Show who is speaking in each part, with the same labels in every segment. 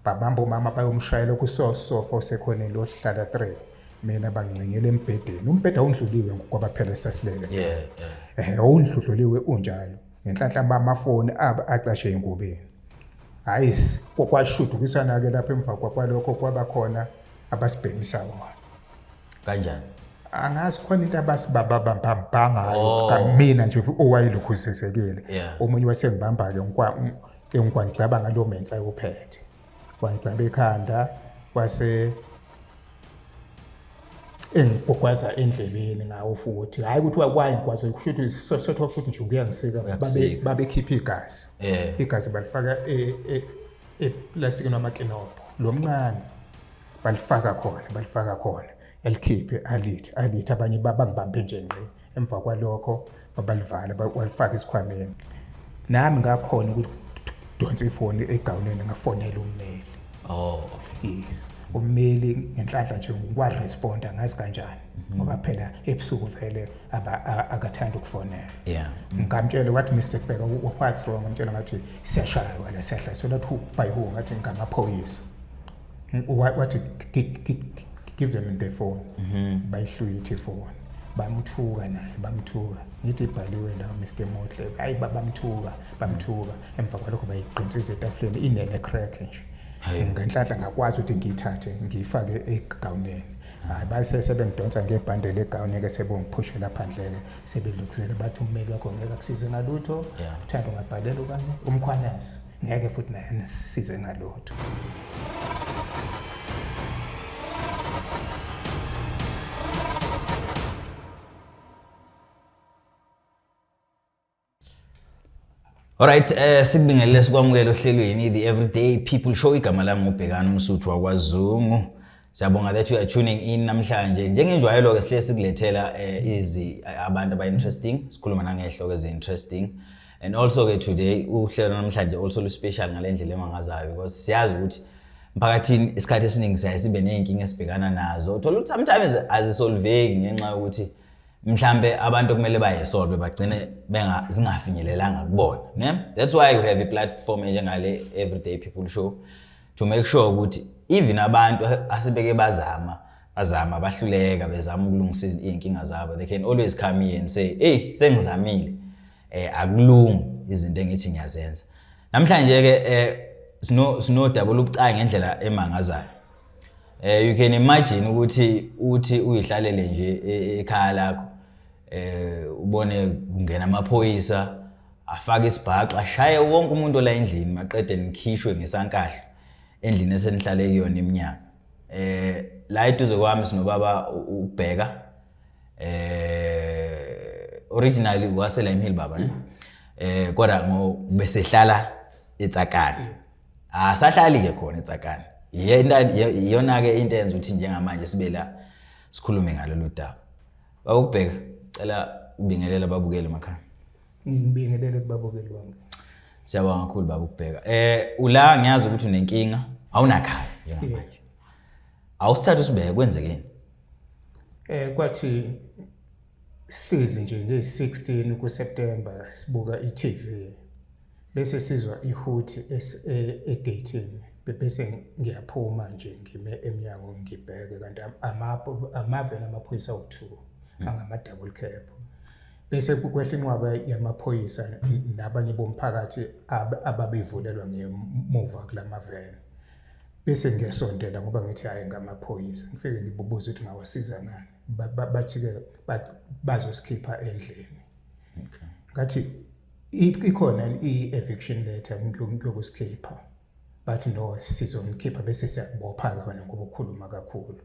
Speaker 1: babamba umama bayomshayela okusosofa osekhoneni lohlala 3 mina bangcingela embhedeni umbheda undluliwe ngokuba phela esasilele yeah yeah eh undluliwe unjalo ngenhlanhla amafoni aba aqashe ingubeni hayi kokwashudukisana ke lapha emva kwakwalokho kwaba khona abasibhekisa wona kanjani
Speaker 2: angazi
Speaker 1: khona into abasibaba bambamba ngayo oh. kamina nje owayelokhu usesekile omunye wasengibamba ke ngikwa ke ngigwangigaba ngalo mensa ayophethe wangigaba ekhanda wase engigwagwaza endleleni ngawo futhi hayi ukuthi wayigwaza kusho ukuthi sisotho futhi nje kuyangisika babekhipha igazi eh. igazi balifaka eplastikini e, e, wamakinobho lo mncane balifaka khona balifaka khona elikhiphe alithi alithi abanye babangibambe nje ngqi emva kwalokho babalivala balifaka isikhwameni nami ngakhona ukuthi donsa ifoni egawuneni ngafonela ummeli oh yes ummeli ngenhlanhla nje ngikwaresponda ngazi kanjani mhm. ngoba phela ebusuku vele akathanda ukufonela yeah ngamtshela wathi Mr Bheka what's wrong ngamtshela ngathi siyashaywa la siyahla sona thu by who ngathi ngamaphoyisa wathi give them the phone mhm. bayihlwithe ifoni bamthuka naye bamthuka ngithi ibhaliwe la Mr Motle hayi bamthuka bamthuka emva kwalokho bayiqinsiza etafuleni inene crack nje ngenhlanhla ngakwazi ukuthi ngiyithathe ngiyifake egawuneni hayi base sebengidonsa ngebhande legawuni-ke sebongiphushela phandle-ke sebelukuzele bathi ummeli wakho ngeke akusize ngalutho uthanda ungabhalela okanye umkhwanazi ngeke futhi naye nisisize ngalutho
Speaker 2: Alright, eh sikubingelele sikwamukele ohlelweni the everyday people show igama lami ngubhekana umsuthu wakwazungu. Siyabonga that you are tuning in namhlanje. Njengenjwayelo ke sihle sikulethela eh, izi abantu aba interesting. Sikhuluma nangehlo ke interesting. And also ke today uhlelo namhlanje also lu special ngalendlela emangazayo because siyazi ukuthi mphakathini isikhathi esiningi siyaye sibe nezinkinga esibhekana nazo. Uthola ukuthi sometimes azisolveki ngenxa yokuthi mhlambe abantu kumele bayisolve bagcine benga zingafinyelelanga kubona, ne? That's why you have a platform enjengale Everyday People Show. to make sure ukuthi even abantu asebeke bazama bazama bahluleka bezama ukulungisa izinkinga zabo they can always come here and say hey sengizamile eh akulungi izinto engithi ngiyazenza namhlanje ke eh sino sino double ubucayi ngendlela emangazayo eh you can imagine ukuthi uthi uyihlalele nje e, ekhaya lakho eh ubone kungena amaphoyisa afake isibhaxu ashaye wonke umuntu ola endlini maqede nikhishwe ngesankahlo endlini esenihlale kuyona iminyaka eh la eduze kwami sinobaba ubheka eh originally wasela imhili baba ne eh kodwa ngo besehlala etsakani asahlali ke khona etsakani iyona ke into enza ukuthi njengamanje sibe la sikhulume ngalolu daba babukubheka cela ubingelela babukele makhaya ngibingelele
Speaker 1: kubabukeli bonke siyabonga kakhulu
Speaker 2: baba ukubheka eh ula ngiyazi ukuthi unenkinga awunakhaya njengamanje awusithatha usibeke kwenzekeni eh kwathi
Speaker 1: sihlezi nje nge-16 kuSeptember sibuka iTV bese sizwa ihuthi egatini bese ngiyaphuma nje ngime emnyango ngibheke kanti amapho amave namaphoyisa okuthiwa angama double cab bese kukwehla inqwaba yamaphoyisa nabanye bomphakathi ababevulelwa ngemuva kula maveni bese ngiyasondela ngoba ngithi hhayi ngamaphoyisa ngifike ngibubuza ukuthi ngawasiza ngani bathi-ke bazosikhipha endlini ngathi ikhona i-eviction letter ngiyokusikhipha bathi no sizomkhipha bese siyakubopha-ke wena ngoba ukhuluma kakhulu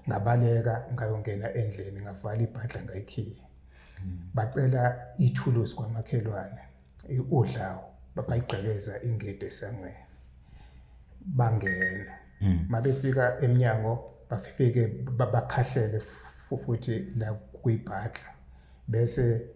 Speaker 1: ngabaleka ngayongena endlini ngavala ibhadla ngayikhiye hmm. bacela ithuluzi kwamakhelwane udlawo bayigqekeza ingede esangweni bangena hmm. mabefika emnyango bafike bakhahlele futhi la kuyibhadla bese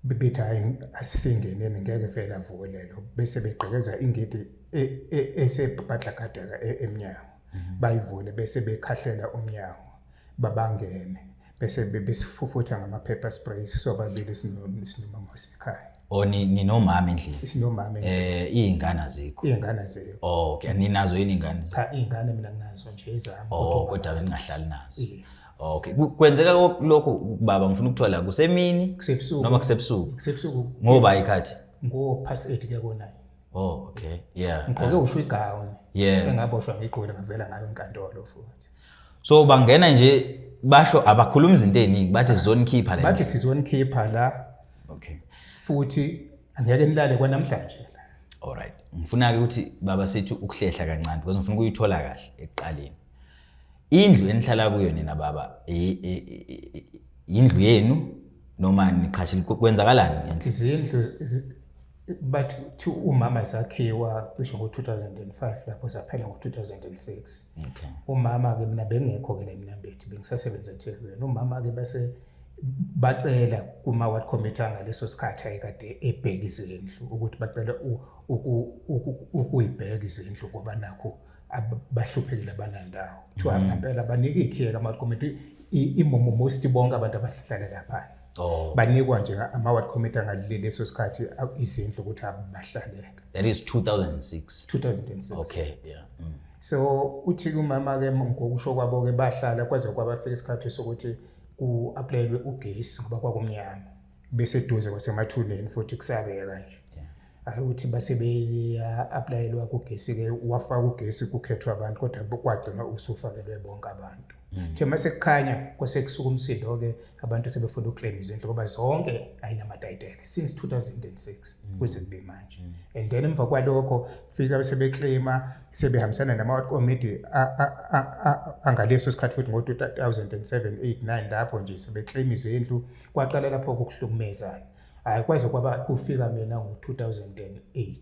Speaker 1: bebethi hayi asisengeneni ngeke vele avuke lelo bese begqekeza ingidi e, e, esebhadlakadeka e, emnyango mhm. bayivule bese bekhahlela umnyango babangene bese besifufutha ngama-paper spray sobabili sinomama wasekhaya or
Speaker 2: ninomama endlini sinomama eh
Speaker 1: izingane azikho
Speaker 2: izingane azikho oh
Speaker 1: okay ninazo
Speaker 2: yini ingane cha izingane mina
Speaker 1: nginazo nje izami oh kodwa ningahlali
Speaker 2: nazo yes Okay.
Speaker 1: Kwenzeka
Speaker 2: lokhu baba ngifuna ukuthiwa la kusemini kusebusuku noma kusebusuku. Kusebusuku. Ngoba
Speaker 1: ikhathi.
Speaker 2: Ngo past 8
Speaker 1: kuya ko 9. Oh, okay.
Speaker 2: Yeah. Ngigqoke uh, usho igown.
Speaker 1: Yeah. Engaboshwa
Speaker 2: ngigqoke ngavela
Speaker 1: ngayo enkantolo futhi. So bangena
Speaker 2: nje basho abakhuluma izinto eziningi bathi sizonikhipha la. Bathi sizonikhipha la.
Speaker 1: Okay.
Speaker 2: Futhi
Speaker 1: angeke nilale kwanamhlanje la. All right. Ngifuna
Speaker 2: ke ukuthi baba sithi ukuhlehla kancane because ngifuna ukuyithola kahle ekuqaleni. indlu enihlala kuyo nina baba indlu yenu noma niqhashile kwenzakalani ngendlu izindlu
Speaker 1: bathi thi umama sakhiwa cisho ngo-2005 lapho zaphela ngo-2006 okay.
Speaker 2: umama-ke mina
Speaker 1: bengekho-ke la emnambethi bengisasebenza ethekwini umama-ke base bacela kuma-ward committee angaleso sikhathi ayekade ebheka izindlu ukuthi bacela ukuyibheka izindlu ngoba nakho abahluphekile banandawo kuthiwa mm. ngampela banike ikhiye kama committee imomo most bonke abantu abahlala lapha oh. banikwa
Speaker 2: nje ama
Speaker 1: ward committee angalile leso sikhathi izindlu ukuthi abahlale that is 2006 2006
Speaker 2: okay
Speaker 1: yeah
Speaker 2: mm. so
Speaker 1: uthi kumama ke ngokusho kwabo ke bahlala kwaze kwabafika isikhathi sokuthi ku applyelwe ugesi ngoba kwakumnyama bese duze kwasemathuneni futhi kusabeka nje hayi ukuthi base beya-aplayelwa kugesi-ke wafaka ugesi kukhethwa abantu kodwa kwagcina usufakelwe bonke abantu hmm. the uma sekukhanya kwasekusuka umsindo-ke abantu sebefuna ukuclaim izindlu ngoba zonke ayinamatayitele since 2006 hmm. kuze kube manje hmm. and then emva kwalokho kufika sebeclaima sebehambisana namakomidi angaleso sikhathi futhi ngo-2007 8 9 lapho nje sebeclaim izindlu kwaqala lapho kukuhlukumezana hayi kwaze kwaba kufika mina ngo-2008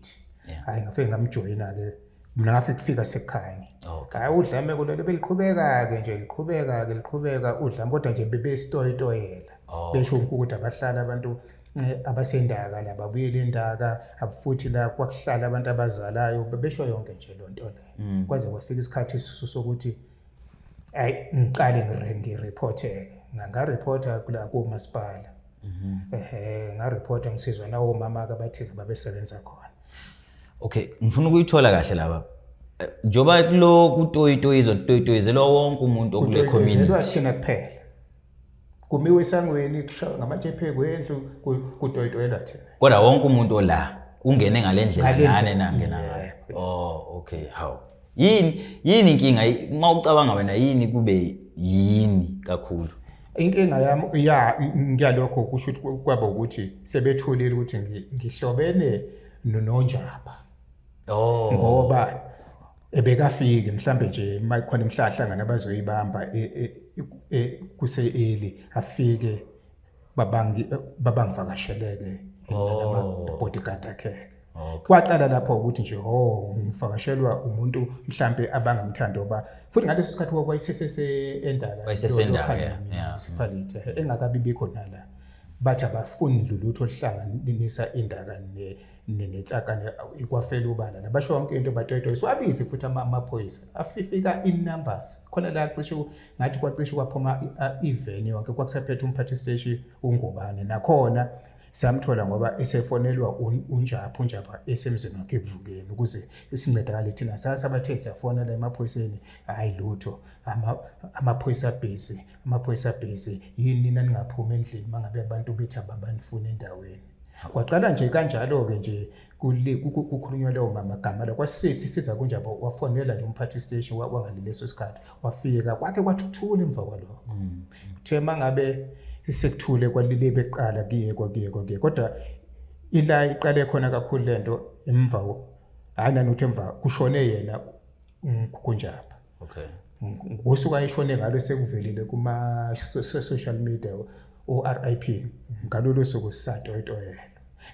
Speaker 1: hayi ngafike ngamjoyina-ke mna ngafike kufika sekhanye hayi udlame kulelo beliqhubeka-ke nje liqhubeka-ke liqhubeka udlame kodwa nje bebesitoyitoyela oh, besho ukuthi abahlala abantu eh, abasendaka la babuyele endaka abufuthi la kwakuhlala abantu abazalayo bebesho yonke nje lo nto leyo mm. kwaze kwafika isikhathi isisu sokuthi ayi ngiqale ngiriphotheke ngangarephotha kula komasipala Mhm. Ehhe nga report ngisizwa nawo mama ka bathize babesebenza khona. Okay,
Speaker 2: ngifuna ukuyithola kahle laba. Eh, Njoba kulo kutoyitoyizo kutoyitoyizelwa wonke umuntu okule community. Kutoyizelwa thina kuphela.
Speaker 1: Kumiwe esangweni kushawa ngamatshe phekwendlu kutoyitoyelwa thina. Kodwa wonke umuntu ola
Speaker 2: ungene ngalendlela nane nangena ngayo. Oh, okay, how? yini yini inkinga uma ucabanga wena yini kube yini kakhulu inkinga yami
Speaker 1: ya ngiyalokho kusho ukuthi kwaba ukuthi sebethulile ukuthi ngihlobene nonjaba oh
Speaker 2: ngoba
Speaker 1: ebekafiki mhlambe nje mayikhona imhlahlangana abazoyibamba e, e, e, kuse eli afike babangi babangivakasheleke oh. bodyguard akhe okay. kwaqala lapho ukuthi nje oh ngivakashelwa umuntu mhlambe abangamthandi oba futhi ngaleso sikhathi wayesesese endala wayesesendala yeah
Speaker 2: municipality eh, engakabi
Speaker 1: bikho nala bathi abafuni lutho oluhlanganisa indaka ne nenetsakane ikwafela ubala nabasho yonke into batwetwe siwabizi futhi amaphoyisa afifika in numbers khona la cishe ngathi kwacishe kwaphuma iveni yonke kwakusaphethe umphathi steshi ungubane nakhona samthola ngoba esefonelwa unjapha unjapha esemzini wakhe ekuvukeni ukuze sincedakale thina sasa bathe siyafonela emaphoyiseni hhayi lutho amaphoyisa abhizi amaphoyisa abhizi yini nina ningaphumi endlini uma ngabe abantu bethi ababanifuni endaweni kwaqala nje kanjalo-ke nje kukhulunywa lewo magama la kwasisi siza kunjabo wafonela nje umphathi station wangali leso sikhathi wafika kwakhe kwathi kuthule emva kwaloko mm. kuthe mangabe isekuthule kwalile beqala kuye kwakuye kwakuye kodwa ila iqale khona kakhulu lento emva hayi nanothe emva kushone yena kunjaba okay
Speaker 2: ngosuku
Speaker 1: ayishone ngalo sekuvelile kuma social media o-RIP ngalolo suku sisatoyitoyela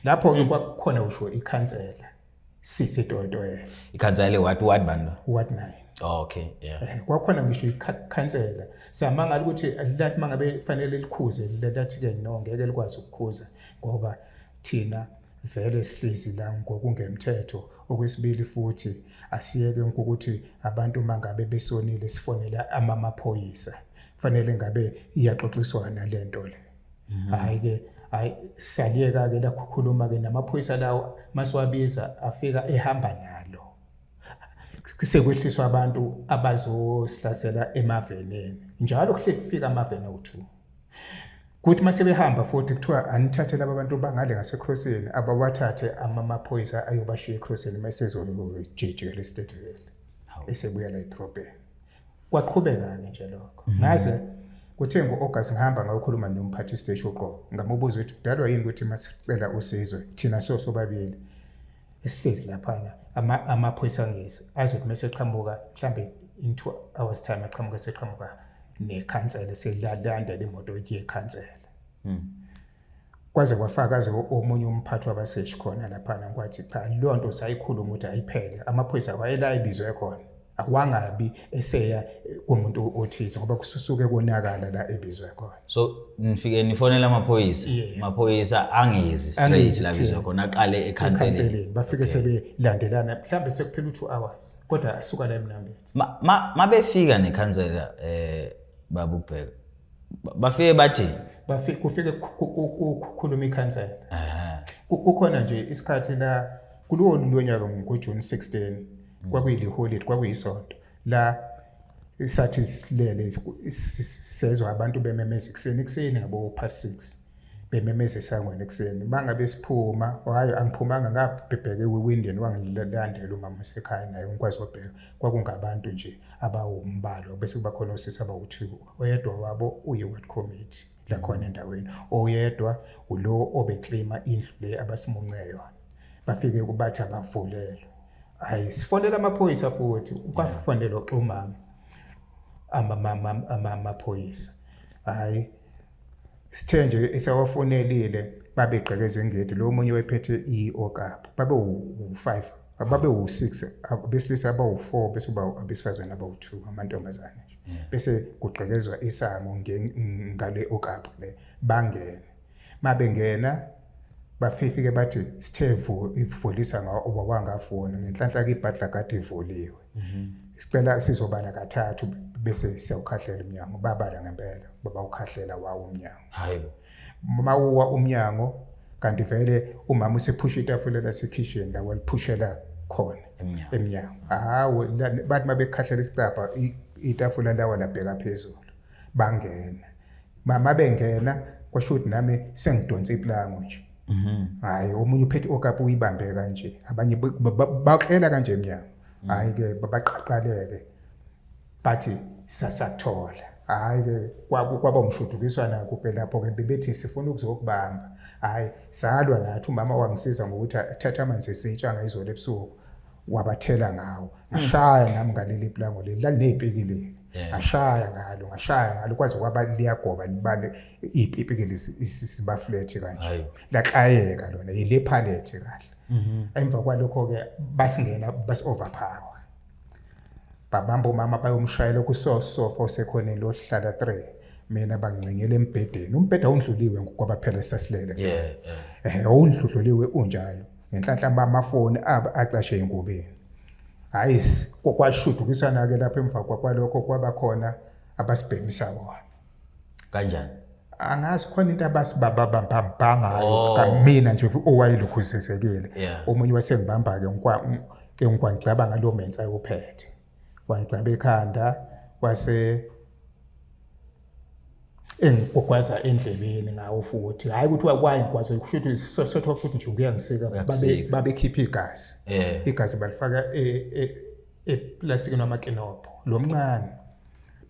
Speaker 1: lapho ke kwakukhona usho ikhansela sisi toyitoyela ikhansela le
Speaker 2: ward ward bani ward 9 Oh, okay yeah
Speaker 1: eh,
Speaker 2: kwakhona ngisho
Speaker 1: ikhansela samangala ukuthi lathi mangabe kufanele likhuze lathi ke no ngeke likwazi ukukhuza ngoba thina vele sihlezi la ngokungemthetho okwesibili futhi asiyeke ukuthi abantu uma ngabe besonile sifonela amamaphoyisa kufanele ngabe iyaxoxiswana le nto le mhm. hhayi-ke hhayi saliyeka-ke lakhuluma-ke namaphoyisa lawo masiwabiza afika ehamba nalo sekwehliswa abantu abazosihlasela emaveneni njalo kuhle kufika amaveni awu-two kuthi uma sebehamba futhi kuthiwa anithathe laba bantu bangale ngasekrosini abawathathe amaphoyisa ayobashiya ekrosini uma esezojijikela esitedveli esebuya la edrobheni kwaqhubeka-ke nje lokho mhm. ngaze kuthe ngo-august ngihamba ngayokhuluma nomphathi siteshi uqobo ngamubuza ukuthi kudalwa yini ukuthi masicela usizwe thina sosobabili esihlezi laphana amaphoyisa angezi azothi mase qhamuka mhlambe in 2 hours time aqhamuka seqhamuka nekhansela selalanda lemoto iye khansela hmm. kwaze kwafakaze omunye umphathi wabaseshi khona laphana kwathi cha leyo nto sayikhuluma ukuthi ayiphele amaphoyisa wayela ibizwe khona awangabi eseya kumuntu othize ngoba kususuke konakala la ebizwe khona so nifike
Speaker 2: nifonela amaphoyisa amaphoyisa angezi straight la bizwe khona aqale ekhanseleni bafike sebelandelana
Speaker 1: mhlambe sekuphela u2 hours kodwa asuka la emnambethi mabefika
Speaker 2: nekhansela eh babubheka bafike bathi bafike kufike
Speaker 1: kukhuluma ikhansela kukhona nje isikhathi la kulolu lonyaka ngojuni 16 mm. kwakuyiliholide kwakuyisonto la sathi silele sezwa abantu bememeza ekuseni ekuseni ngabo past six bememeza esangweni ekuseni uma ngabe siphuma hhayi angiphumanga ngabhebheke kwi-windian wangilandela umama usekhaya naye ngikwazi wabheka kwakungabantu nje abawumbalwa bese kuba khona osisi abawu-two oyedwa wabo uyi-ward committee la khona endaweni oyedwa ulo obeclaima indlu le abasimunce yona bafike kubathi abavulelwe hayi sifonela amaphoyisa futhi ukwafonela oxhumanga amamama amaphoyisa hayi sithe nje esawafonelile babegqeke ezengedi lo omunye wephethe i-okapu babe u-five babe u-six besilisa abawu-four bese uba abesifazane abawu-two amantombazane bese kugqekezwa isango ngale okapu le bangene mabengena bafifike bathi sithe ivulisa ngawo obawangafuni ngenhlanhla kibhadla kade ivuliwe mhm. sicela sizobala kathathu bese siyawukhahlela umnyango babala ngempela baba ukhahlela wawo umnyango hayibo
Speaker 2: uma uwa
Speaker 1: umnyango kanti vele umama usephusha itafula lasekhishini la waliphushela khona emnyango hawo bathi mabekhahlela isicabha itafula lawa labheka phezulu bangena mama bengena kwasho ukuthi nami sengidonsa iplango nje mhm. hayi omunye uphethe okapu uyibambe kanje abanye baklela kanje emnyango mhm. hayi ke babaqaqaleke bathi sasathola hayi ke kwaba umshudukiswana kuphela lapho ke bebethi sifuna ukuzokubamba hayi salwa nathi umama wangisiza ngokuthi athathe amanzi esitsha ngayizolo ebusuku wabathela ngawo ngashaya nami ngaleli plango leli lalinezipikili ngashaya ngalo ngashaya ngalo kwaze kwaba liyagoba libale ipikili isiba flat kanje laklayeka lona yile palette kahle mhm. emva kwalokho ke basingena bas overpower babamba umama bayomshayela kusosofa osekhoneni lohlala 3 mina bangcengele embhedeni umbheda undluliwe ngokuba phela sasilele yeah, yeah. eh undluliwe unjalo ngenhlanhla bamafoni abo acashe engubeni hayi kwakwashudukisana ke lapha emva kwakwalokho kwaba khona abasibhemisa wona kanjani
Speaker 2: angazi
Speaker 1: khona into abasibaba bambambanga oh. kamina nje owayelokhu usesekile omunye wasengibamba ke ngikwa ke ngikwa ngicabanga lo mensa ayophethe wangigcwaba ekhanda wase engigwagwaza endlebeni ngawo futhi hhayi ukuthi wayigwaza kusho ukuthi sisosotho futhi nje kuyangisika babekhipha igazi eh. igazi balifaka e, e, eplasikini wamakinobho lo mncane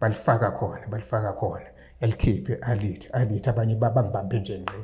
Speaker 1: balifaka khona balifaka khona elikhiphe alithi alithi abanye babangibambe nje ngqi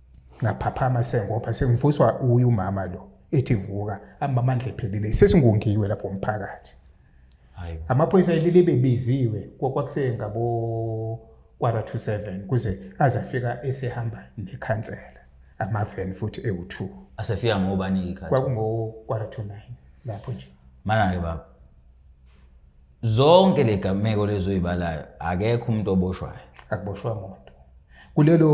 Speaker 1: ngaphaphama sengopha sengivuswa uye umama lo ethi vuka amamandla ephelile sesingongiwe lapho umphakathi amaphoyisa elile bebiziwe kwakwakuse ngabo kwara to 7 kuze aze afika esehamba nekhansela amaven futhi ewu2 asefika ngobani
Speaker 2: ikhathi kwakungo kwara to 9
Speaker 1: lapho nje mana ke baba
Speaker 2: zonke le gameko lezoyibalayo akekho umuntu oboshwayo akuboshwa muntu
Speaker 1: kulelo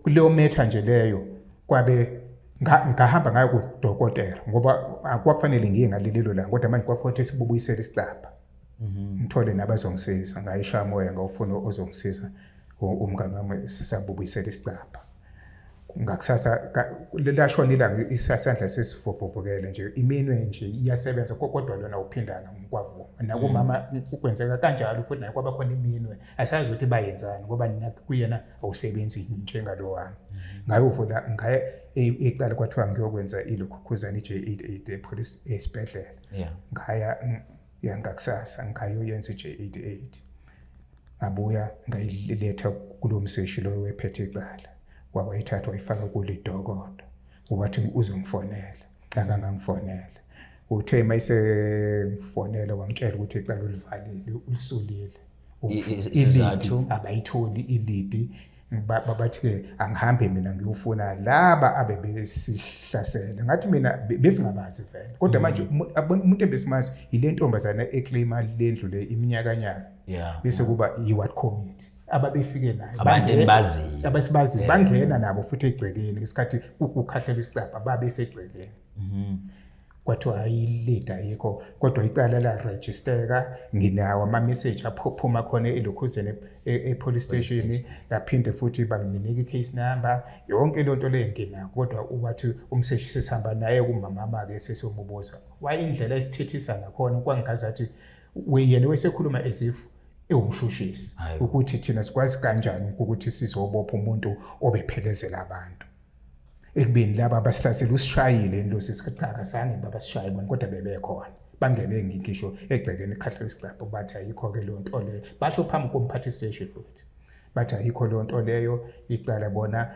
Speaker 1: kuleyo metha nje leyo kwabe ngahamba ngayo kudokotela ngoba akwakufanele ngiye ngalililo la kodwa manje kwakufanele sibubuyisele isicabha mhm. ngithole nabazongisiza ngayisha moya ngawufuna ozongisiza umngane wami sisabubuyisela isicabha ngakusasa lashona ilanga isasandla sesivuvukele nje iminwe nje iyasebenza kodwa lona uphindana kwavuma nakumama kwenzeka kanjalo futhi naye kwaba khona iminwe asazi ukuthi bayenzani ngoba nina kuyena awusebenzi njengalo wami ngaye uvula ngaye iqala kwathiwa ngiyokwenza ilokhukhuzana i-J88 epolice esibhedlela ngaya yangakusasa ngayoyenza i-J88 ngabuya ngayiletha kulo mseshi loyo wephethe icala wakwayithatha wayifaka kulidokodo wathi uzongifonela akangangifonela uthe uma isengifonela wangitshela ukuthi icala ulivalile ulisulile
Speaker 2: isizathu abayitholi
Speaker 1: ilidi bathi-ke angihambe mina ngiyofuna laba abebesihlasela ngathi mina besingabazi vele kodwa mm. manje umuntu ebesimazi yile ntombazana eclaima lendlu le iminyakanyaka bese kuba yi-what community ababefike nayo
Speaker 2: abasibaziyo
Speaker 1: bangena nabo futhi egcwekeni ngesikhathi kukhahlelwa isicabha babesegcwekeni mm-hmm. kwathiwa hhayi ilida ayikho kodwa icala larejisteka nginawo ama-message aphuma khona elokhuzeni e, e-police station laphinde futhi banginika i-case number yonke loo nto leyo nginako kodwa wathi umseshi sesihamba naye kumamama-ke sesiyomubuza wayindlela esithethisa ngakhona kwangingazathi yena wesekhuluma as if ewumshushisi ukuthi thina sikwazi kanjani ukuthi sizobopha umuntu obephelezela abantu ekubeni laba basihlasela usishayile indosi sikaqhaka sange babasishaye bona kodwa bebekhona bangene ngisho egcekeni ecatholic club bathi ayikho-ke leyo nto leyo basho phambi komphathi siteshi futhi bathi ayikho leyo nto leyo iqala bona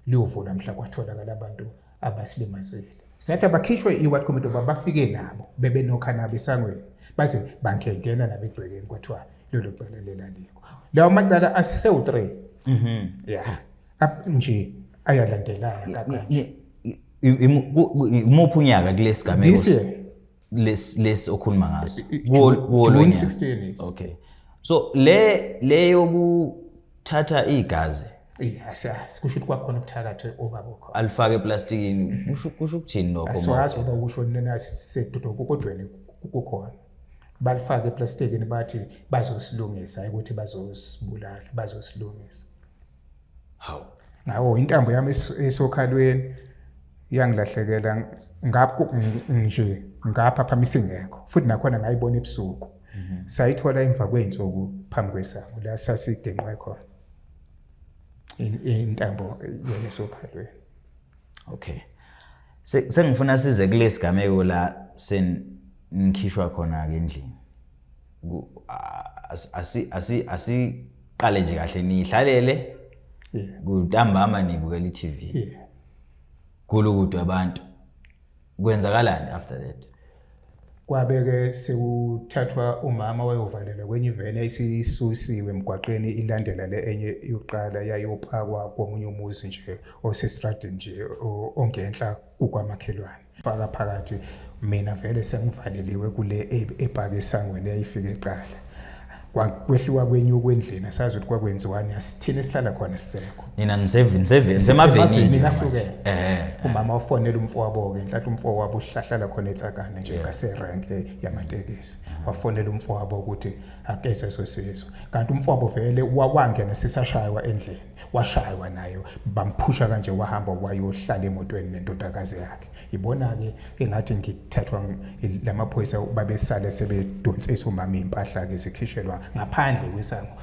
Speaker 1: liyovula mhla kwatholakala abantu abasilimazile sathi abakhishwe i-ward committee uba bafike nabo bebenokha nabo esangweni baze bangengena nabo egcekeni kwathiwa lelo cala lelalikho lawo macala asewu-three mhm. ya up nje ayalandelana umuphi
Speaker 2: unyaka kulesi gameko lesi lesi okhuluma ngaso kuwo 16
Speaker 1: okay so
Speaker 2: le le yokuthatha igazi asiyazi
Speaker 1: kusho ukuthi kwakhona ubuthakathi obaba okhona alifake eplastikini
Speaker 2: mhm. kusho ukuthini lokho asiwazi ngoba kusho nina
Speaker 1: sisedudokodweni kukhona balifake eplastikini bathi bazosilungisa ukuthi bazosibulala bazosilungisa
Speaker 2: hawu nawo
Speaker 1: intambo yami esokhalweni iyangilahlekela ngapho nje ngapha phama isingekho futhi nakhona ngayibona ebusuku mhm. sayithola emva kwey'nsuku phambi kwesango la sasidenqwe khona intambo yesokhalweni
Speaker 2: okay sengifuna size kulesigameko la sen ngikhishwa khona ke endlini asiqale nje kahle niyihlalele kutambama nibukela i-tv kulukudwa abantu kwenzakalani after that kwabeke
Speaker 1: sekuthathwa umama wayovalela kwenye iveni ayisisusiwe emgwaqeni ilandela le enye yokuqala yayophakwa komunye umuzi nje osestradini nje ongenhla kukwamakhelwane faka phakathi mina vele sengivaleliwe kule e, ebhaka esangweni eyayifike eqala kwehliwa kwenye ukwendlini asazi ukuthi kwakwenziwani asithini esihlala khona sisekho nina
Speaker 2: nisemavenini ahlukene
Speaker 1: eh. umama ofonela umfo wabo-ke nhlathi umfo wabo uhlahlala khona etsakane nje ngaserenke yamatekisi wafonela umfo wabo ukuthi akeze sosizo kanti umfo wabo vele wawangena sisashaywa endlini washaywa nayo bamphusha kanje wahamba wayohlala emotweni nendodakazi yakhe ibona-ke engathi ngithathwa lamaphoyisa babesale sebedonsisa umama iy'mpahla-ke zikhishelwa ngaphandle kwesango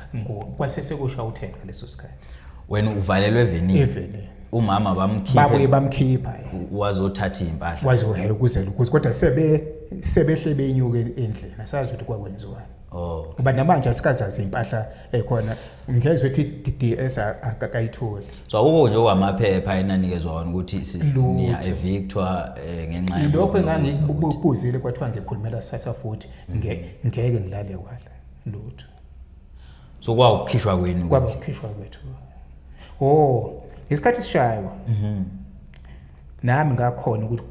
Speaker 1: kwasesekusha uthenga leso sikhathi wena uvalelwe
Speaker 2: evenini evenini umama bamkhipha babuye bamkhipha
Speaker 1: wazothatha
Speaker 2: iy'mpahla wazohela ukuze ukuthi
Speaker 1: kodwa sebe sebehle benyuke endlela sazi ukuthi kwakwenziwani oh ngoba namanje asikazazi impahla ekhona eh, ngezwe ethi DDS akakayitholi so akukho nje
Speaker 2: okwamaphepha enanikezwa wona ukuthi niya evictor eh, ngenxa yalokho lokho engangikubuzile
Speaker 1: kwathiwa ngikhulumela sasa futhi mm. ngeke ngilale wala lutho
Speaker 2: so kwawukhishwa kwenu
Speaker 1: kwaba ukhishwa kwethu oh isikhathi
Speaker 2: sishaywa
Speaker 1: mhm nami ngakhona ukuthi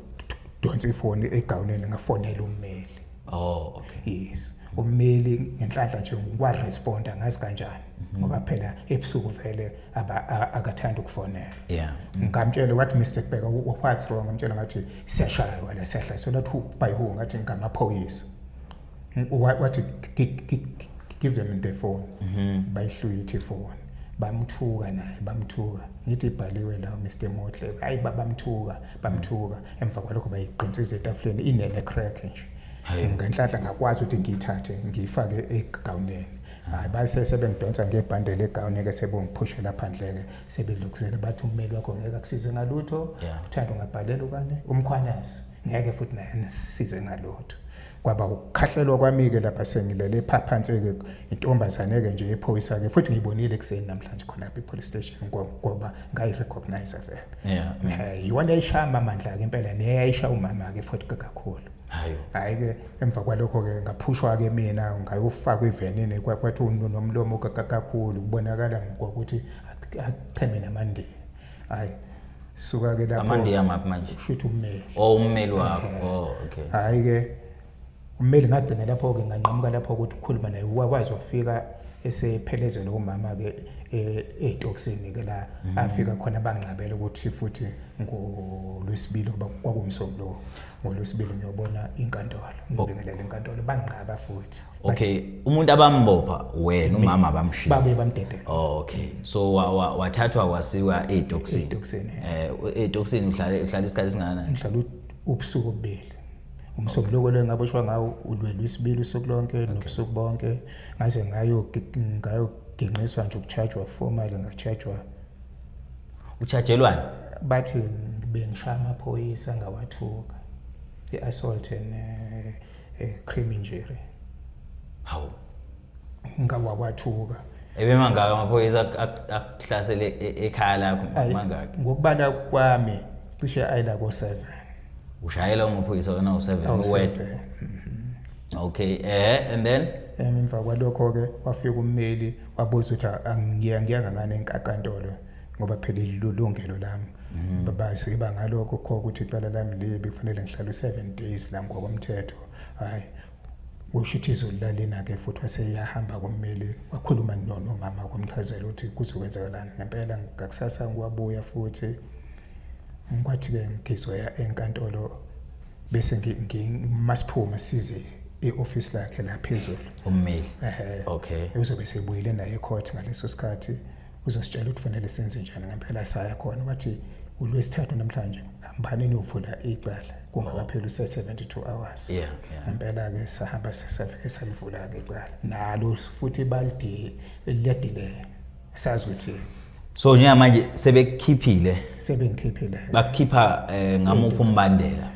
Speaker 1: donsa ifoni egawuneni ngafonela ummeli oh okay
Speaker 2: yes ummeli
Speaker 1: ngenhlanhla nje ngikwa responder ngazi kanjani mhm. ngoba phela ebusuku vele akathanda ukufonela yeah ngamtshela
Speaker 2: what
Speaker 1: Mr Bheka what's wrong ngamtshela ngathi siyashaywa la sehla so that who by who ngathi ngamaphoyisa wathi give them the phone mhm. bayihlwithe ifone bamthuka naye bamthuka ngithi ibhaliwe la Mr Motle hayi babamthuka bamthuka emva kwalokho bayiqinsiza etafuleni inene crack nje ngenhlanhla ngakwazi ukuthi ngiyithathe ngiyifake egawuneni hayi base sebengidonsa ngebhande legawuni ke sebongiphushela phandle ke sebedlukuzela bathi ummeli wakho ngeke akusize ngalutho uthanda ungabhalela ubani umkhwanazi ngeke futhi naye nisize ngalutho kwaba ukukhahlelwa kwami-ke lapha sengilele phaphansi-ke intombazane-ke nje yephoyisa-ke futhi ngiyibonile ekuseni namhlanje khona lapha i-police station ngoba ngayi-recognize vele eh, iwona
Speaker 2: yayishaya amamandla-ke
Speaker 1: impela neyayisha umama-ke futhi kakhulu hayi-ke emva kwalokho-ke ngaphushwa-ke mina ngayofakwa ivenini kwathi unomlomo kakhulu kubonakala ngokuthi acheme namandeni hayi suka ke lapho amandiya maphi manje
Speaker 2: shuthi ummeli oh
Speaker 1: ummeli wakho
Speaker 2: oh okay hayi ke
Speaker 1: ummeli ngagcina lapho ke nganqamuka lapho ukuthi ukhuluma naye wakwazi wafika esephelezela umama ke etoksini e, ke la mhm. afika khona bangqabela ukuthi futhi ngolwesibili kwakumsomlo ngolwesibili ngiyobona inkantolo ngibingelela inkantolo banginqaba futhi okay umuntu
Speaker 2: abambopha wena umama abamshiya babe bamdedela
Speaker 1: okay so
Speaker 2: wathathwa wasiwa edoxini edoxini eh edoxini uhlale uhlale isikhathi singana ngihlala ubusuku
Speaker 1: obubili umsombuluko lo ngaboshwa ngawo ulwelwe isibili usuku lonke nobusuku bonke ngaze ngayo ngayo ginqiswa nje ukuchargewa formally ngachajwa
Speaker 2: uchajelwani bathi
Speaker 1: bengishaya amaphoyisa ngawathuka i-assault and uh, uh, crime injury hawu
Speaker 2: ngawakwathuka
Speaker 1: ebemangaka amaphoyisa
Speaker 2: akuhlasele e-, ekhaya lakho mangaka ngokubala kwami
Speaker 1: cishe ayila ko 7 ushayela
Speaker 2: umaphoyisa wena u7 uwedwa mm-hmm. okay eh and then emva kwalokho
Speaker 1: ke wafika ummeli wabuzwa ukuthi angiya ngiya ngangane enkakantolo ngoba phela ilulungelo lami mm. babazi iba ngalokho kho ukuthi icala lami libi kufanele ngihlale u7 days la ngokomthetho hayi usho ukuthi izulu lalina ke futhi waseyahamba kummeli wakhuluma nono mama kwamchazela ukuthi kuzokwenzakalani ngempela ngakusasa ngiwabuya futhi ngikwathi ke ngigizwe enkantolo bese ngimasiphume size e-office lakhe la phezulu ummeli ehe
Speaker 2: okay uzobe sebuyile
Speaker 1: naye ecourt ngaleso sikhathi uzositshela ukuthi fanele senze njani ngempela saya khona wathi ulwesithathu namhlanje hambani niyovula icala kungakapheli use-72 hours yeah, yeah. ngempela-ke sahamba safike salivula-ke icala nalo futhi balide liyadelela sazi ukuthi so njengamanje
Speaker 2: sebekhiphile sebengikhiphile bakukhipha eh, ngamuphi umbandela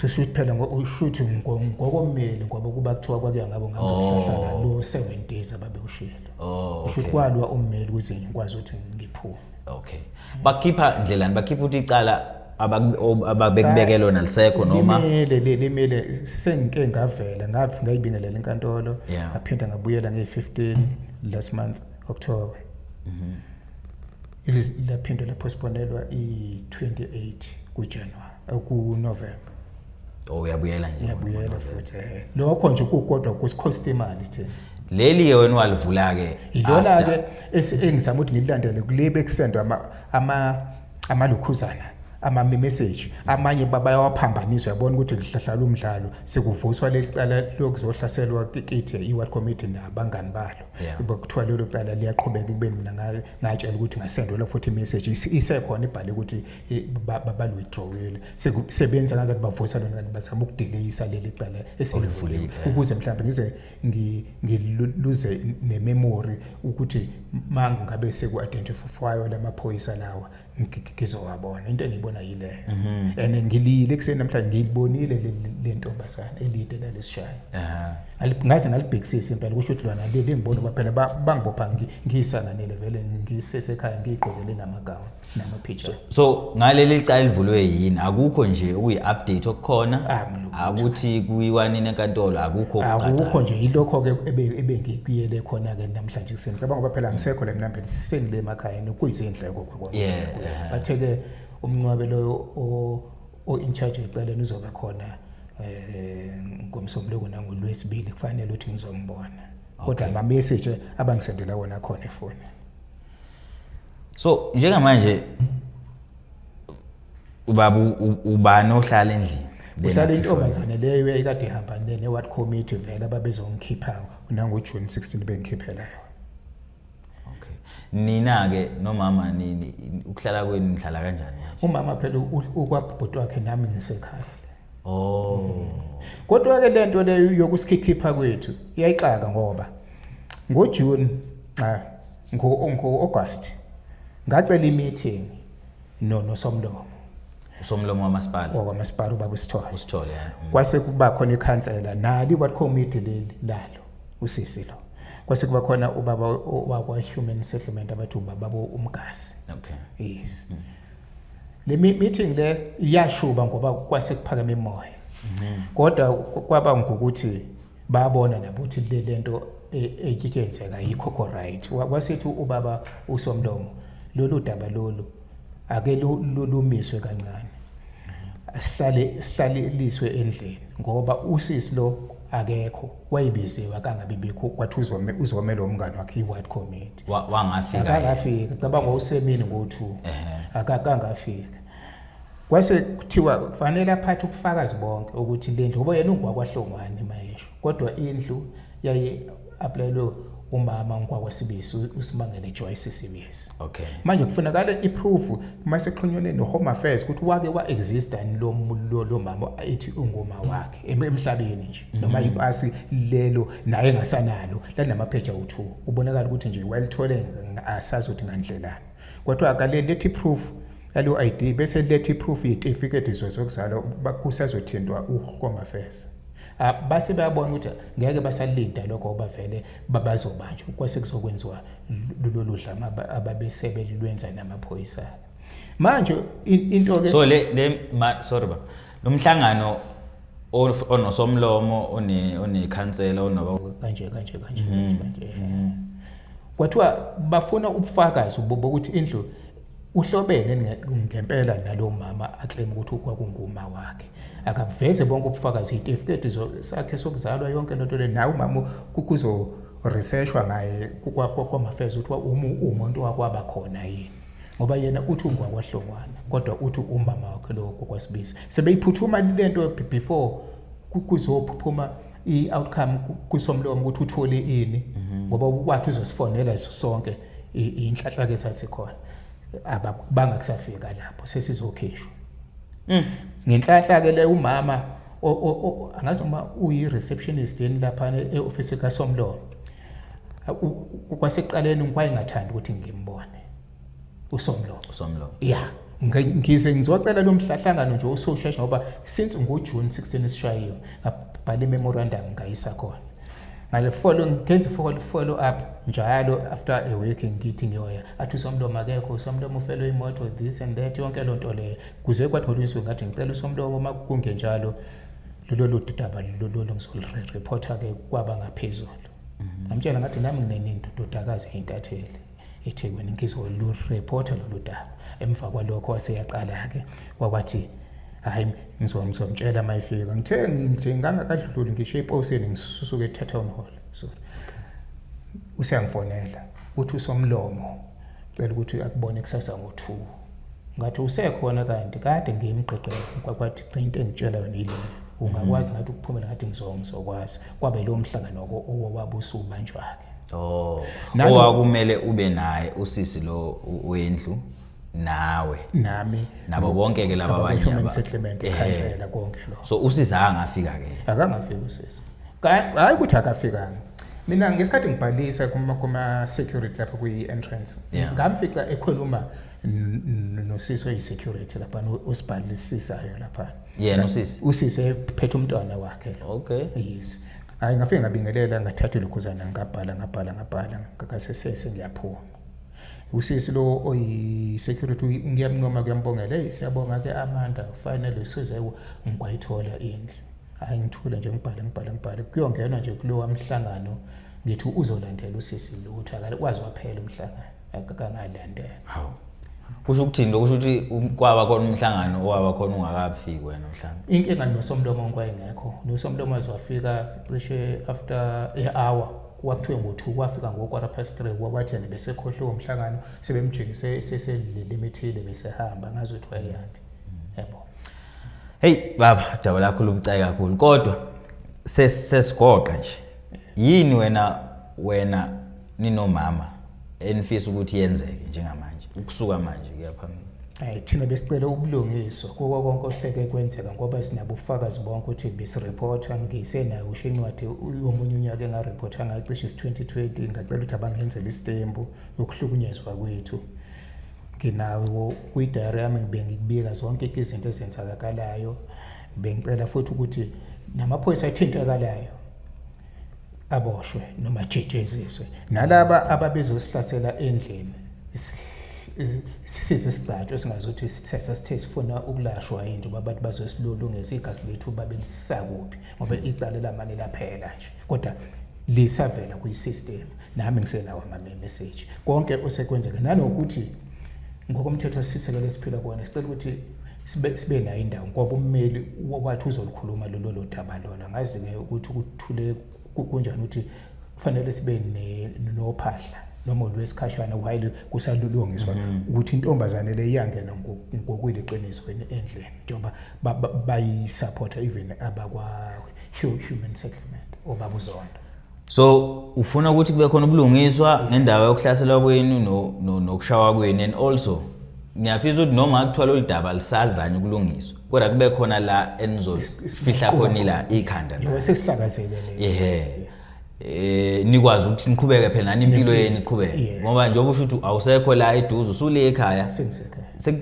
Speaker 2: kusho ukuthi phela
Speaker 1: ushuthi ngokomeli ngoba kuba kuthiwa kwakuya ngabo ngazohlala oh. lo 7 days ababewushiyela oh, usho ukuthi kwalwa ummeli ukuthi ngikwazi ukuthi ngiphume okay
Speaker 2: bakhipha ndlelani bakhipha ukuthi icala ababekubeke lona lisekho noma limele limele
Speaker 1: sengike ngavela ngayibingelela inkantolo ngaphinda ngabuyela nge-15 last month October mhm laphinde laphostponelwa i-28 kuJanuary eh, kuNovember oh
Speaker 2: uyabuyela nje uyabuyela futhi
Speaker 1: eh. lokho nje kukodwa kusikhosta imali thina leli ke wena
Speaker 2: walivula ke ilona ke
Speaker 1: engizama ukuthi ngilandele kulebe kusendwa ama ama amalukhuzana ama message amanye babayawaphambanisa yabona ukuthi lihlahlala umdlalo sekuvuswa lelicala lokuzohlaselwa kithi iWorld Committee nabangani balo yeah. kuthiwa lelo cala liyaqhubeka kubeni mina ngatshela ukuthi ngasendelwa futhi imessage isekhona ibhale ukuthi babalwithdrawile sebenza ngaze kubavusa lona kanti bazama ukudeleyisa leli cala eselivuliwe ukuze mhlawumbe ngize ngiluze nememory ukuthi mangu ngabe seku-identifywa lamaphoyisa lawa ngizowabona into engiyibona yile mhm. and ngilile kuseni namhlanje ngiyibonile le ntombazana elide lalesishayo ngaze ngalibhekisisa impela kusho ukuthi lona leli ngibona uba phela bangibopha ngiyisanganele vele ngisesekhaya ngiyigqokele namagawa namaphitsha so ngaleli
Speaker 2: licala elivulwe yini akukho nje okuyi-update okukhona akuthi kuyiwanini enkantolo akukho akukho nje yilokho-ke
Speaker 1: ebengikuyele khona-ke namhlanje kuseni cabanga uba phela ngisekho le mnambeni sengile emakhayeni kuyizindlela yeah bathe ke umncwabe loyo o in charge weceleni uzobe khona eh ngomsombuluko nangolwesibili kufanele ukuthi ngizombona kodwa ama message abangisendela wona khona efoni so
Speaker 2: njengamanje ubaba ubani ohlala endlini uhlala intombazane
Speaker 1: leyo ekade ihamba ne-ward committee vele ababezongikhipha nangojuni 16 bengikhiphela yona
Speaker 2: okay nina ke nomama nini ukuhlala kwenu nihlala kanjani umama phela
Speaker 1: ukwabhuti wakhe nami ngisekhaya oh
Speaker 2: kodwa
Speaker 1: ke lento leyo yokusikhipha kwethu iyayixaka ngoba ngo June cha ngo ngo August ngacela i meeting no nosomlomo
Speaker 2: usomlomo wamasipala wakwamasipala ubaba usithole
Speaker 1: usithole yeah. mm.
Speaker 2: kwase kuba
Speaker 1: khona ikhansela nali what committee leli lalo usisi lo kwase kuba khona ubaba wakwa human settlement abathi ubaba umgasi
Speaker 2: okay
Speaker 1: yes mm. le meeting le iyashuba ngoba kwase kuphakeme imoya mm-hmm. kodwa kwaba ngokuthi babona nabo ukuthi le lento etshitshenzeka e, yikho ko right wasethi ubaba usomlomo lolu daba lolu ake lumiswe kancane asihlale sihlaleliswe endlini ngoba usisi lo akekho wayibiziwe akangabi bikho kwathi uzome uzome lo mngani wakhe iward committee wangafika
Speaker 2: akangafika cabanga
Speaker 1: usemini ngo2 akakangafika kwase kuthiwa kufanele aphathe ubufakazi bonke ukuthi le ndlu ngoba yena ungwakwahlongwane mayesho kodwa indlu yaye aplayelwe umama ngikwakwasibisi usimangele Joyce Sibisi okay manje kufunakala iproof mase xhunyelwe no home affairs ukuthi wake wa exist and lo lo mama ethi ungoma wakhe emhlabeni nje mhm. noma ipasi lelo naye ngasanalo lanamapheja u2 ubonakala ukuthi nje walithole asazi ukuthi ngandlelani Kodwa akalethi proof yalo ID bese lethi proof yetifiketi zokuzalwa kusazothintwa uHome Affairs. Ah, base bayabona ukuthi ngeke basalinda lokho obavele babazobanjwa kwase kuzokwenziwa lolu dlama ababesebe lwenza namaphoyisa manje into ke so le le
Speaker 2: sorry ba lomhlangano onosomlomo one onekhansela onoba kanje kanje kanje mhm. kanje
Speaker 1: mhm. Kwathiwa bafuna ubufakazi bokuthi indlu uhlobene ngempela nalo mama aclaim ukuthi kwakunguma wakhe akaveze bonke ubufakazi itifiketi sakhe sokuzalwa yonke lento le nawe umama kuzo researchwa ngaye kwahohwa mafeza ukuthi uma umuntu wakwaba khona yini ngoba yena uthi ungwakwahlongwana kodwa uthi umama wakhe lowo kokwasibisi sebeyiphuthuma lento before kuzophuma i-outcome kwisomlomo ukuthi uthole ini mhm. ngoba wathi uzosifonela iso sonke inhlanhla ke sasikhona ababanga kusafika lapho sesizokhishwa mm. ngenhlanhla ke le umama angazi uma uyi receptionist yeni lapha e office ka Somlomo kwasekuqaleni ngikwayengathanda ukuthi ngimbone usomlomo usomlomo yeah ngize ngizocela lo mhlahlangano nje usoshesha ngoba since ngojune 16 esishayiwe ngabhala imemorandum ngayisa khona ngale follow ngenza follow follow up njalo after a week ngithi ngiyoya athi usomlomo akekho usomlomo ufelwe imoto this and that yonke loo nto leyo kuze kwathola insuku ngathi ngicela usomlomo uma kungenjalo lolu daba lolu ngizolireporta-ke kwaba ngaphezulu mhm. ngamtshela ngathi nami nginenini ndodakazi yintatheli ethekwini ngizwe lurepota lolu daba emva kwalokho waseyaqala-ke wakwathi hhayi ngizomtshela uma ifika ngithe nje ngangakadluli ngisho eposini ngisusuke etown hall sorry useyangifonela uthi usomlomo cela ukuthi akubone kusasa ngo-two ngathi usekhona kanti kade ngimgqigqela kwakwathi into engitshela yona yileyo ungakwazi ngathi ukuphumela ngathi ngizokwazi kwabe lowo mhlangano owabusubanjwa-ke oh owakumele
Speaker 2: ube naye usisi lo wendlu nawe nami
Speaker 1: nabo bonke ke
Speaker 2: laba abanye human settlement
Speaker 1: ikhansela konke lo so usisi angafika
Speaker 2: ke akangafika usisi
Speaker 1: hayi ukuthi akafikanga mina ngesikhathi ngibhalisa kuma kuma security lapha kwi entrance ngamfica ekhuluma nosisi oyisecurity lapha osibhalisisayo lapha yena usisi
Speaker 2: usisi ephethe
Speaker 1: umntwana wakhe okay yes
Speaker 2: hayi
Speaker 1: ngafike ngabingelela ngathatha ilokhuzana ngabhala ngabhala ngabhala ngakasesese ngiyaphuma usisi lo oyi-security ngiyamncoma kuyambongela eyi siyabonga ke amanda finally usuze ngikwayithola indlu hhayi ngithule nje ngibhale ngibhale ngibhale kuyongenwa nje kulowa mhlangano ngithi uzolandela usisi lo ukuthi akakwazi waphela umhlangano akangalandela hawu
Speaker 2: kusho ukuthini lokusho ukuthi kwaba khona umhlangano owaba khona ungakafiki wena mhlawumbe inkinga nosomlomo
Speaker 1: ngikwayengekho nosomlomo azofika cishe after a hour kwakuthiwe ngo-two kwafika ngo-quarter past three kwabathene besekhohliwe umhlangano sebemjikise seselilele imithile besehamba ngazi ukuthi wayeyaphi yebo
Speaker 2: heyi baba daba lakho lubucayi kakhulu kodwa sesigoqa nje yini wena wena ninomama enifisa ukuthi yenzeke njengamanje ukusuka manje kuya phambili hayi thina besicela
Speaker 1: ubulungiswa kuko konke oseke kwenzeka ngoba sinabufakazi bonke ukuthi bisireportha ngisenayo usho incwadi yomunye unyaka engareportha ngayo cishe isi-2020 ngacela ukuthi abangenzela isitembu yokuhlukunyezwa kwethu nginawe kwi-diary yami bengikubika zonke izinto ezenzakakalayo bengicela futhi ukuthi namaphoyisa athintakalayo aboshwe noma jejeziswe nalaba ababezosihlasela endlini sisize isigcatshwa esingazothi sithethe sithe sifuna ukulashwa yinto babantu bazosilulungisa igazi lethu babe lisakuphi ngoba iqale lamane laphela nje kodwa lisavela kwi-system nami ngisenawo ama-message konke osekwenzeka nanokuthi ngokomthetho sisekelo esiphila kuwona sicela ukuthi sibe sibe nayo indawo ngoba ummeli wathi uzolikhuluma lolo lodaba lona ngazi ke ukuthi ukuthule kunjani ukuthi kufanele sibe nophahla noma olwesikhashana while kusalulungiswa mhm. ukuthi intombazane le iyangena ngokwile qiniso endleni njengoba bayisupporta even abakwa human settlement obabuzondo so
Speaker 2: ufuna ukuthi kube khona ubulungiswa ngendawo yokuhlaselwa kwenu nokushawa kwenu and also ngiyafisa ukuthi noma kuthiwa lolu daba lisazanye ukulungiswa kodwa kube khona la enizofihla khona ila ikhanda la sesihlakazele le ehe
Speaker 1: eh
Speaker 2: nikwazi ukuthi niqhubeke phela nani impilo yenu iqhubeke ngoba njengoba usho ukuthi awusekho la eduze usule ekhaya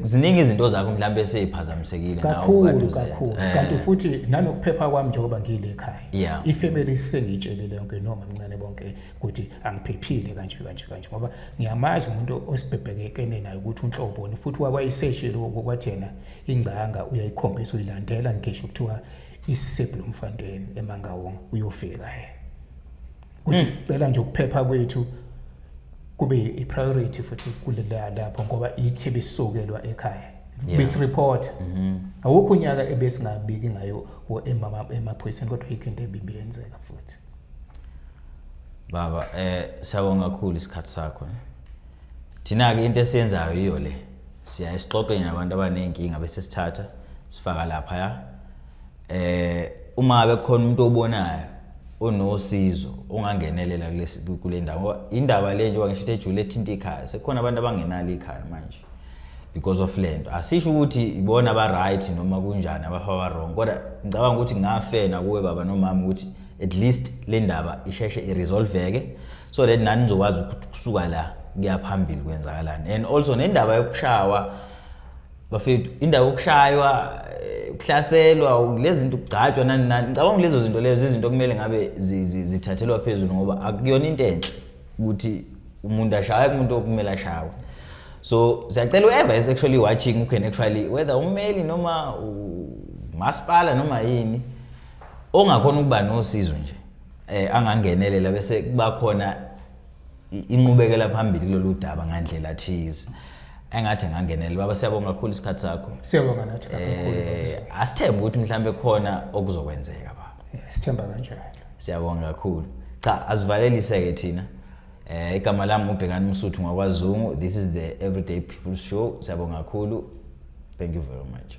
Speaker 2: ziningi izinto zakho mhlawumbe seyiphazamisekile nawo kakhulu kakhulu eh.
Speaker 1: kanti futhi nanokuphepha kwami njengoba ngile ekhaya yeah ifamily isengitshelile yonke no mamncane bonke ukuthi angiphephile kanje kanje kanje ngoba ngiyamazi umuntu osibhebhekekene naye ukuthi unhloboni futhi wakwayiseshile kwathi yena ingcanga uyayikhombisa uyilandela ngisho kuthiwa isisebhu lomfanteni emangawonga uyofika yena ukuthi mm. cela nje ukuphepha kwethu kube i-priority futhi kulela lapho ngoba ithi bisukelwa ekhaya yeah. besireport mm -hmm. awukho unyaka ebesingabiki ngayo emaphoyiseni kodwa yikho into ebimbi yenzeka futhi baba
Speaker 2: eh siyabonga kakhulu isikhathi sakho eh. thina ke into esiyenzayo iyo le siya esixoxeni nabantu abanenkinga bese sithatha sifaka lapha ya eh uma bekhona umuntu obonayo onosizo ongangenelela kulesi kule ndawo indaba le njengoba ngisho ukuthi ejule ethinta ikhaya sekukhona abantu abangenalo ikhaya manje because of le nto asisho ukuthi ibona ba-right noma kunjani abafa ba-wrong kodwa ngicabanga ukuthi ngafena kuwe baba nomama ukuthi at least le ndaba isheshe iresolveke so that nani nizokwazi ukuthi kusuka la kuyaphambili kwenzakalani and also nendaba yokushawa bafethu indawo yokushaywa eh, ukuhlaselwa lezi zinto ukugcatshwa nani nani ngicabanga ukuthi lezo zinto lezo izinto okumele ngabe zi- zi- zithathelwa phezulu ngoba akuyona into enhle ukuthi umuntu ashawe kumuntu okumele ashawe so siyacela whoever is actually watching who can actually whether ummeli noma umasipala noma yini ongakhona ukuba nosizo nje um angangenelela bese kuba khona inqubekela phambili kulolu daba ngandlela thize engathi ngangenele baba siyabonga kakhulu isikhathi sakho siyabonga nathi
Speaker 1: kakhulu eh, asithembe ukuthi
Speaker 2: mhlawumbe khona okuzokwenzeka baba sithemba kanjalo
Speaker 1: siyabonga kakhulu
Speaker 2: cha asivalelise ke thina eh igama lami ubhekani umsuthu ngwakwazungu this is the everyday people show siyabonga kakhulu thank you very much